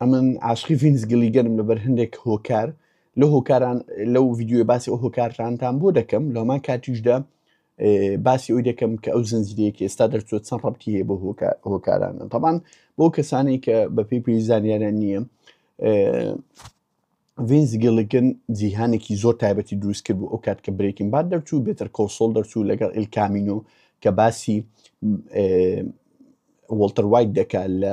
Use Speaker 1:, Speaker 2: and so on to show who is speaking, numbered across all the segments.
Speaker 1: ئەمن عاشقی ڤینس گلیگەنم لەبەر هەندێک هۆکار لە هۆکاران لەو ڤیددیوی باسی ئەو هۆکارانتان بۆ دەکەم لەمان کاتیشدا باسی ئەوی دەکەم کە ئەو زنجیرەیەکی ئێستا دەرچوە چەند ڕەتی هەیە بۆ هۆکارانە تەبان بۆ کەسانی کە بە پێی پێی زانیارە نییە ڤینس گەڵگن جیهانێکی زۆر تایبەتی دروست کرد بوو ئەو کات کە برێکن بعد دەرچوو بێتەر کۆسۆل دەرچوو لەگەڵ ئلکامینۆ کە باسی وڵتەر وایت دەکات لە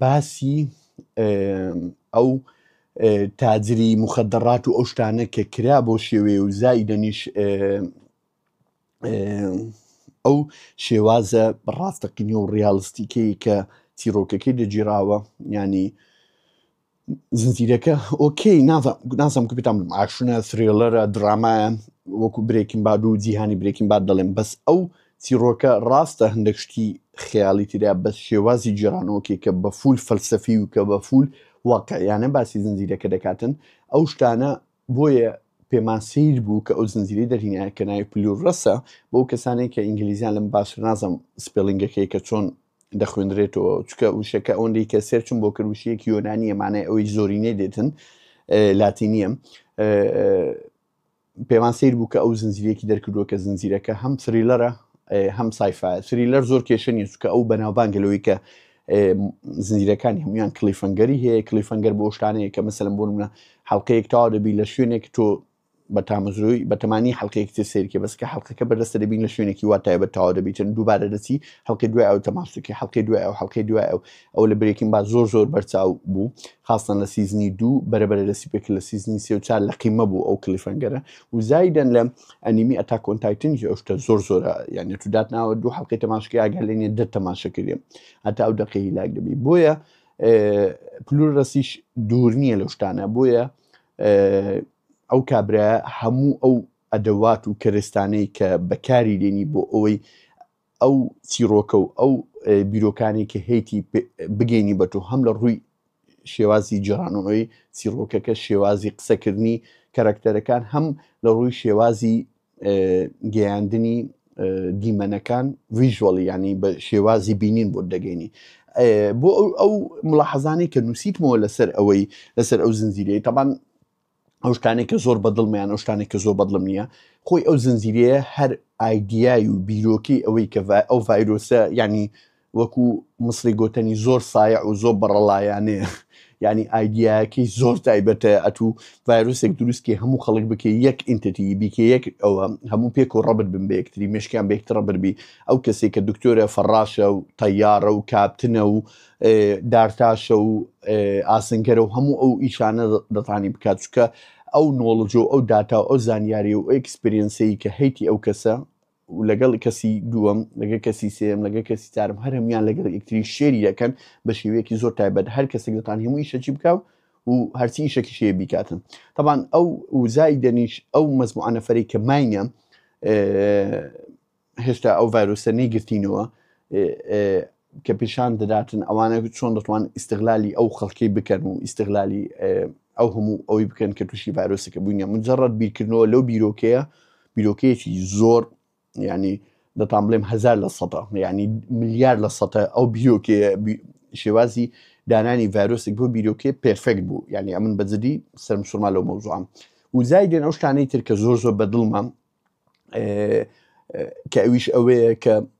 Speaker 1: باسی ئەو تاجری موخەدەڕات و ئەو شتانە کە کرا بۆ شێوەیە و زایدەنیش ئەو شێوازە ڕاستەقینە و ڕیالیستیکەی کە چیرۆکەکەی دەگیراوە ینی زنجیرەکە ئۆکەی نازم بتام ئاشونە سرێڵەرە درامایە وەکو برێکم باد و جیهانی برێکم باد دەڵێم بەس ئەو چیڕۆکە ڕاستە هەندێک شتی خەیاڵی تریا بەس شێوازی جێرانەوەکێک کە بە فول فەلسەفی و کە بە فول واقعیانە باسی زنجیرەکە دەکاتن ئەو شتانە بۆیە پێمان سیر بوو کە ئەو زنجیری دەرینایە کە ناوی پلور ڕەسە بۆ کەسانێک کە ئینگلیزیان لەم باشتر نازم سپلنگەکەی کە چۆن دەخوێنرێتەوە چکە وشەکە ئەوەندەی کە سێرچم بۆ کرد وشەیەکی یۆنانیە مانای ئەوەی زۆرینەی دێتن لاتینیە پێوان سیر بوو کە ئەو زنجیرەکی دەرکردووە کە زنجیرەکە هەم سریلەرە هەم سایفا سریلەر زۆر کێشە نیە چکە ئەو بەناوبانگەلەوەی کە زنجیرەکانی هەمویان کلیفەنگەری هەیە کلیفەنگەر بۆ شتانەیە کە مەسەلم بۆ منە حڵلقەیەک تاوا دەبی لە شوێنێک تۆ بە تامەزرۆی بەتەمانی حەلقەیەکی تر سەیرکە بەس کە حەلقەکە بەردەستە دەبین لە شوێنێکی وا تایبەت تەواو دەبیتن دووبارە دەچی حەلقەی دوای ئەو تەماسوکی حەلقەی دوای ئەو حەلقەی دوای ئەو ئەو لە برێکین با زۆر زۆر بەرچاو بوو خاستان لە سیزنی دوو بەرەبەرە دەستی پێک لە سیزنی سێ و چار لە قیمە بوو ئەو کلیفەنگەرە و زایدەن لە ئەنیمی ئەتاکۆن تایتنی ئەو شتە زۆر زۆرە یعنی تو دات ناوە دوو حەلقەی تەماشکی ئاگەر لێنێ دە تەماشە کردێن هەتا ئەو دەقەی هیلاک دەبی بۆیە پلور ڕسیش دوور نییە لەو شتانە بۆیە ئه ئەو کابرا هەموو ئەو ئەدەوات و کەرستانەی کە بەکاری لێنی بۆ ئەوەی ئەو چیرۆکە و ئەو بیرۆکانی کە هەیتی بگەینی بە تۆ هەم لە ڕووی شێوازی جیرانەوەی چیرۆکەکە شێوازی قسەکردنی کەرەکتەرەکان هەم لە ڕووی شێوازی گەیاندنی دیمەنەکان ویژوەڵ ینی بە شێوازی بینین بۆ دەگەینی بۆ ئەو ئەو ملاحەزانەی کە نووسیتمەوە لەسەر ئەوەی لەسەر ئەو زنجیرەیە تەبان ئەو شتانێک کە زۆر بەدڵمیان ئەو شتانێک کە زۆر بەدڵم نییە خۆی ئەو زنجیرەیە هەر ئایدیای و بیرۆکی ئەوەی کە ئەو ڤایرۆسە ینی وەکو مصری گۆتەنی زۆر سایع و زۆر بەڕەڵایانەیە یعنی ئایدیایەکەی زۆر تایبەتە ئەتوو ڤایرۆسێک دروستکەی هەموو خەڵک بکە یەک ئینتەتی بیکە یەک ئەوە هەموو پێک و ڕەبت بن بە یەکتری مشکیان بێکتڕە بربی ئەو کەسێک کە دکتۆرە فەڕاشە و تەیارە و کاپتنە و دارتاشە و ئاسنگەرە و هەموو ئەو ئیشانە دەتانی بکات چکە ئەو نۆڵجۆ ئەو داتا و ئەو زانیاری و ئەکسپرینسی کە هەیتی ئەو کەسە و لەگەڵ کەسی دووەم لەگە کەسی سێم لەگە کەسی چارم هەر هەمیان لەگەڵ یەکتری شێری دەکەن بە شێوەیەکی زۆر تایبەت هەر کەسێک لەتان هەموو ئیشەکی بکە و و هەرچی ئیشەکی شێ بیکاتن تەبان ئەو وزای دەنیش ئەو مەزموعانەفەری کە ماینە هێشتا ئەو ڤایرۆسە نەیگرتینەوە کە پیشان دەداتن ئەوانە چۆن دەتوان ئیستغلالی ئەو خەڵکی بکەن و ئیستغلالی ئەو هەموو ئەوەی بکەن کە تووشی ڤایرۆسەکە بووینە مجرڕەت بیرکردنەوە لەو بیرۆکەیە بیرۆکەیەکی زۆر ینی دەتان بڵێم هزار لە سەدا ینی ملیار لە سەە ئەو بیرۆکێ شێوازی دانانی ڤایرۆسێک بۆ بیرۆکێ پرفێکت بوو ینی ئەمن بەجددی سەرمسوورما لەو مەوزوعام وزای دێن ئەو شتانەی ترکە زۆر زۆر بەدڵمە کە ئەویش ئەوەیە کە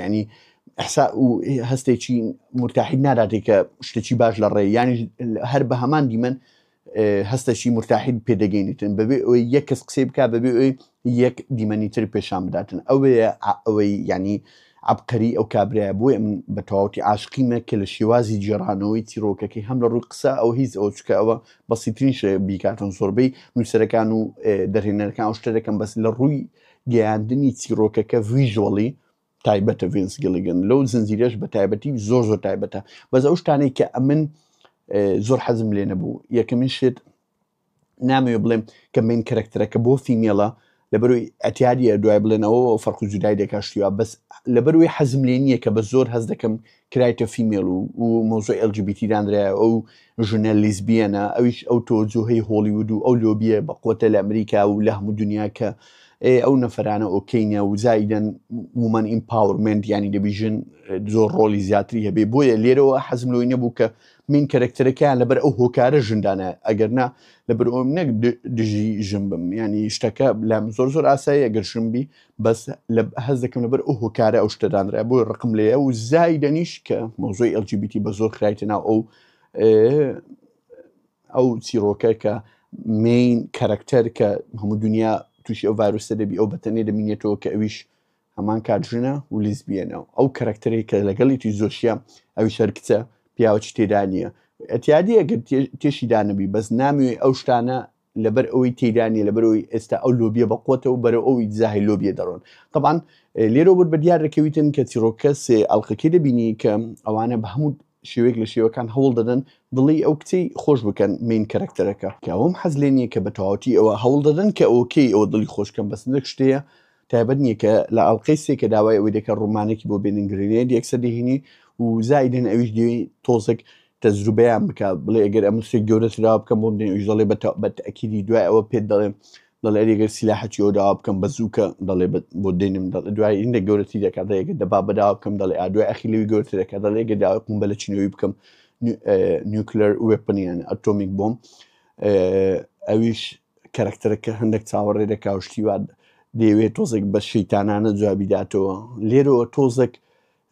Speaker 1: یعنی ئەحسا و هەستێکی مرتاحید ناداتێک کە شتێکی باش لە ڕێ یانی هەر بە هەمان دیمەن هەستەشی مرتاحید پێدەگەینیتن بەبێ ئەوی یەک کەس قسەی بک بەبێ ئەوی یەک دیمەنی تر پێشان بداتن ئەوەیە ئەوەی ینی عبقەری ئەو کابراە بۆی من بە تەواوتی عاشقیمە کە لە شێوازی جێڕانەوەی چیرۆکەکەی هەم لە ڕووی قسە ئەو هیچ ئەو چکە ئەوە بەسیترین شێ بیکاتن زۆربەی نووسەرەکان و دەرهێنەرەکان شتە دەکەم بەس لە ڕووی گەیاندنی چیڕۆکەکە ڤیژۆڵی تایبەتە ڤینس گیلیگن لەو زنجیرەش بە تایبەتی زۆر زۆر تایبەتە بەس ئەو شتانەی کە ئەمن زۆر حەزم لێ نەبوو یەکەمین شێت نامەوێ بڵێم کە من کەرەکتەرەکە بۆ فیمێڵە لەبەروی ئەتیادیە دوای بڵێنەوە فەرق جودای دەکشتیوە بەس لەبەروی حەزم لێ نییە کە بە زۆر هەز دەکەم کرایتە فیمێڵ و و مۆزۆ LGBT دانرایە ئەو ژنە لیزبیەنە ئەویش ئەو تۆجوهەی هۆڵیود و ئەو لۆبیە بەقوەتە لە ئەمریکا و لە هەموو دنیا کە ئێ ئەو نەفرانە ئۆکەینە و زایدەن ومەن ئیمپاورمنت ینی دەبی ژن زۆر ڕۆلی زیاتری هەبێ بۆیە لێرەوە حەزم لۆی نەبوو کە من کەرەکتەرەکەیان لەبەر ئەو هۆکارە ژندانە ئەگەرنا لەبەر ئەوم نەک دژی ژن بم ینی شتەکە لام زۆر زۆر ئاسایی ئەگەر ژن بی بەس لە هەز دەکەم لەبەر ئەو هۆکارە ئەو شتە دانرای بۆی ڕقم لێە و زایدەنیش کە مۆزۆی LGBTی بە زۆر خرایتە ناو ئەو ئەو چیرۆکە کە مین کەرەکتەر کە هەموو دنیا تووشی ئەو ڤایرۆسە دەبی ئەو بەتەنێ دەمینێتەوە کە ئەویش هەمان کاتژنە و لیزبیەنەوە ئەو کەرەکتەرێک کە لەگەڵیتی زۆشیە ئەوی شەر کچە پیاوەچ تێدا نییە ئەتیادی ئەگەر تێشی دانەبی بەس نامی ئەو شتانە لەبەر ئەوەی تێدا نیە لەبەر ئەوی ئێستا ئەو لۆبیە بە قوتەوە بەرە ئەوی دزاهی لۆبیە دەڕۆن طبعاان لێرە بر بە دیار دەکەویتن کە چیرۆکەس ئەڵلقەکەی دەبینی کە ئەوانە بە هەموو شێوێک لە شێوەکان هەوڵ دەدەن دڵی ئەو کچی خۆش بکەن مین کەرەکتەرەکە کەوەم حەز لێ نییە کە بە تەواوەتی ئەوە هەوڵ دەدەن کە ئۆکەی ئەوە دڵی خۆشکەم بەس نەک شتەیە تایبەت نیە کە لە ئەڵقەی سێ کە داوای ئەوەی دەکە ڕومانێکی بۆ بێنن گرێنێد یەکسەر دەهینی و زایدن ئەویش دێ تۆزێک تەزروبەیان بکە بڵێ ئەگەر ئەم سێک گەورە سراوە بکەم بۆم دێن ئەویش دەڵێ بە تەکیدی دوای ئەوە پێت دەڵێم دەڵێ ئەگەر سیلاحەکی ئەو داوا بکەم بە زووکە دەڵێ بۆ دێنم دەڵێ دوای هندە گەورەتی دەکات دەیەکە دەبا بەداوا بکەم دەڵێ ئادوای ئەخی لەوی گەورتر دەکات دەڵێ گە داوای قوم بە لە چینەوەی بکەم نیوکلەر وێپنیان ئەتۆمیک بۆم ئەویش کەرەکتەرەکە هەندەک چاوەڕێ دەکا و شتی وا دەیەوێت تۆزێک بە شەیتانانە جوابی داتەوە لێرەوە تۆزێک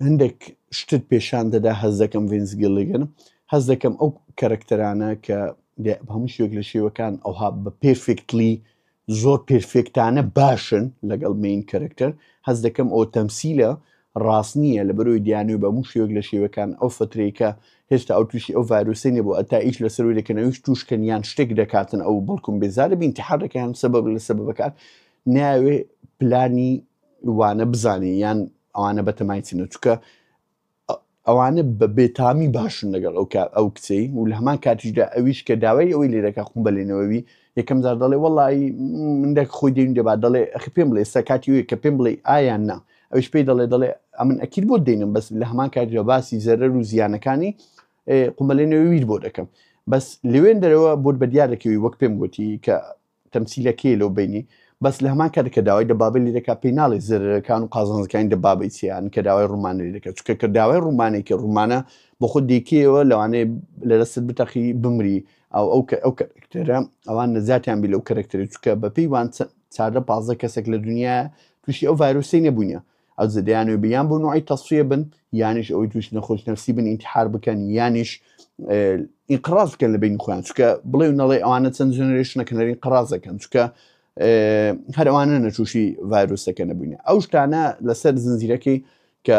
Speaker 1: هەندێک شتت پێشان دەدا هەز دەکەم ڤینس گیلیگن هەز دەکەم ئەو کەرەکتەرانە کە دێ- هەموو شوێک لە شێوەکان ئەوها بە پێرفێکتلی زۆر پێرفێکتانە باشن لەگەڵ مین کەرەکتەر هەز دەکەم ئەو تەمسیلە ڕاست نییە لەبەرۆی دیانوی بە موو شێوەک لە شێوەکان ئەو فترەی کە هێشتا ئەو توشی ئەو ڤایرۆسەی نەبوە ئەتا ئیش لەسەروی دەکەن ئەویش توش کەن یان شتێک دەکاتن ئەو بەڵکم بێزارە بی ئینتحار دەکەن هەم سەبەب لە سەبەبەکان نایەوێ پلانی وانە بزانێ یان ئەوانە بەتەمای چنە چوکە ئەوانە بە بێتامی باشن لەگەڵ ئەو کار ئەو کچەی و لە هەمان کاتیشدا ئەویش کە داوای ئەوەی لێ دەکە خۆم بەلێنەوەوی یەکەم جار دەڵێ وەڵی من دەک خۆی دێن دەبا دەڵێ ئەخی پێم بڵێ ئێستا کاتی وێ کە پێم بڵێ ئایا نا ئەوش پێی دەڵێ دەڵێ ئەمن ئەکیل بۆ دێنم بەس لە هەمان کاتیدا باسی زەرەر و زیانەکانی قومەلێنەوەویر بۆ دەکەم بەس لەوێن دەرەوە بۆت بە دیار دەکەوی وەک پێم گوتی کە تەمسیلە کێیە لەو بەینی؟ بەس لەهەمان کاتدا کە داوای دەبابەی لێ دەکات پێی ناڵێ زەرەرەکان و قازانجەکانی دەبابەی چیان کە داوای ڕومانە لێ دەکات چونکە کە داوای ڕومانەی کە ڕومانە بۆ خۆت دەیکەیەوە لەوانەیە لە دەستت بتەقی بمری ئەو ئەو کە ئەو کەرەکتەرە ئەوان نەجاتیان بی لەو کەرەکتەری چونکە بەپێی وان چەند چاردە پازدە کەسێک لە دنیا تووشی ئەو ڤایرۆسەی نەبووینە ئەوجە دەیانەوێت بە یان بۆ نوعی تەسفیە بن یانیش ئەوەی توش نەخۆش نفسی بن ئینتحار بکەن یانیش ئینقراز بکەن لە بین خۆیان چکە بڵێ نەڵێ ئەوانە چەند جنرێشنەکە نەرین قڕازەکەن چکە هەر ئەوانە نەچوشی ڤایرۆسەکە نەبووین ئەو شتانە لەسەر زنجیرەکەی کە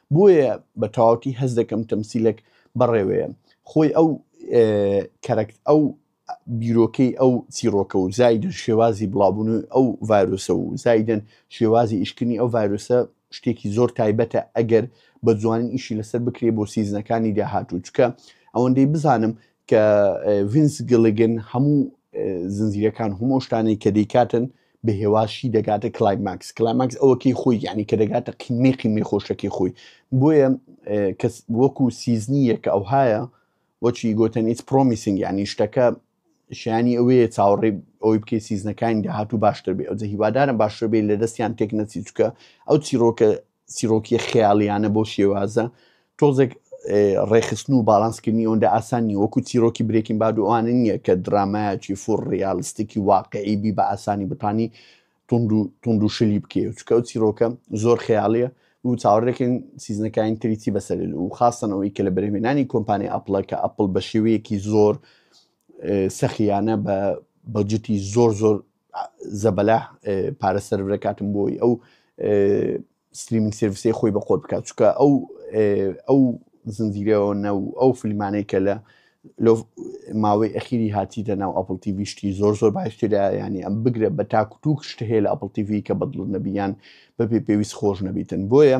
Speaker 1: بۆیە بە تەواوتی هەست دەکەم تەمسیلەک بەڕێوەیە خۆی ئەو کەرەکت ئەو بیرۆکەی ئەو چیرۆکە و زایدن شێوازی بڵاوبوون و ئەو ڤایرۆسە و زایدن شێوازی ئیشکردنی ئەو ڤایرۆسە شتێکی زۆر تایبەتە ئەگەر بە جوانی ئیشی لەسەر بکرێ بۆ سیزنەکانی داهاتوو چکە ئەوەندەی بزانم کە ڤینس گلگن هەموو زنجیرەکان هەموو شتانەی کە دەیکاتن بە هێواشی دەگاتە کلایماکس کلاماکس ئەوەکەی خۆی یعنی کە دەگاتە قیمەی قیمەی خۆشەکەی خۆی بۆیە کەس وەکو سیزنی یەکە ئەو هاە وەچی گوتن ئیت پرۆمیسنگ یعنی شتەکە شیانی ئەوەیە چاوەڕێ ئەوی بکەی سیزنەکانی داهات و باشتر بێ ئەوجە هیوادارم باشتر بێ لە دەستیان تێک نەچی چکە ئەو چیرۆکە چیرۆکیە خەیاڵیانە بەو شێوازە تۆزێک ڕێخستن و باڵانسکردنی ئەوەندە ئاسان نیە وەکو چیرۆکی برێکین باد و ئەوانە نییە کە درامایەکی فور ڕیالیستێکی واقعی بی بە ئاسانی بتانی تونند و شلی بکێ چکە و چیرۆکە زۆر خەیاڵیە و چاوەڕێکن سیزنەکانی تریتی بەسەر و خاستنەوەی کە لە بەرهمێنانی کۆمپانی ئەپلە کە ئەپل بە شێوەیەکی زۆر سەخییانە بە بەجتی زۆر زۆر زەبەلاح پارە سەرف دەکاتم بۆی ئەو ستریمینگ سرویسەی خۆی بە خۆت بکات چکە ئەو ئەو زنجیرەوە نە و ئەو فیلمانەی کە لە لۆ ماوەی ئەخیری هاتیتە ناو ئەپل تیوی شتی زۆر زۆر باشتردا ینی ئەم بگرە بە تاکوتوک شتە هەیە لە ئەپل تیوی کە بەدڵ نەبییان بەبێ پێویست خۆش نەبیتن بۆیە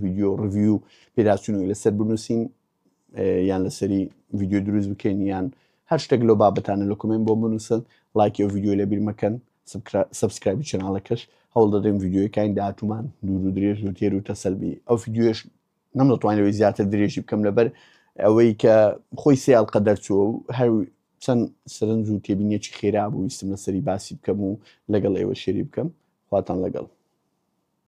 Speaker 1: ڤیددیو ڕڤی و پێداچونەوەی لەسەر بنووسین یان لەسەری ڤیددیو دروست بکەین یان هەر شتێک لەو بابەتانە لە کومێن بۆ بنووسن لایکی و ڤیددیو لە بیرمەکەن سبسکرایبی چناڵەکەش هەوڵ دەدەین ڤیددیوەکانی داهاتومان دوور و درێژ و تێر و تەسەلبی ئەو ڤیددیوش نەم دەتوانەوەی زیاتر درێژی بکەم لەبەر ئەوەی کە خۆی سیال قە دەرچووە و هەر چەند سرنج و تێبینیەکی خێرا بوو ویستم لەسەری باسی بکەم و لەگەڵ ئێوە شێری بکەم خواتان لەگەڵ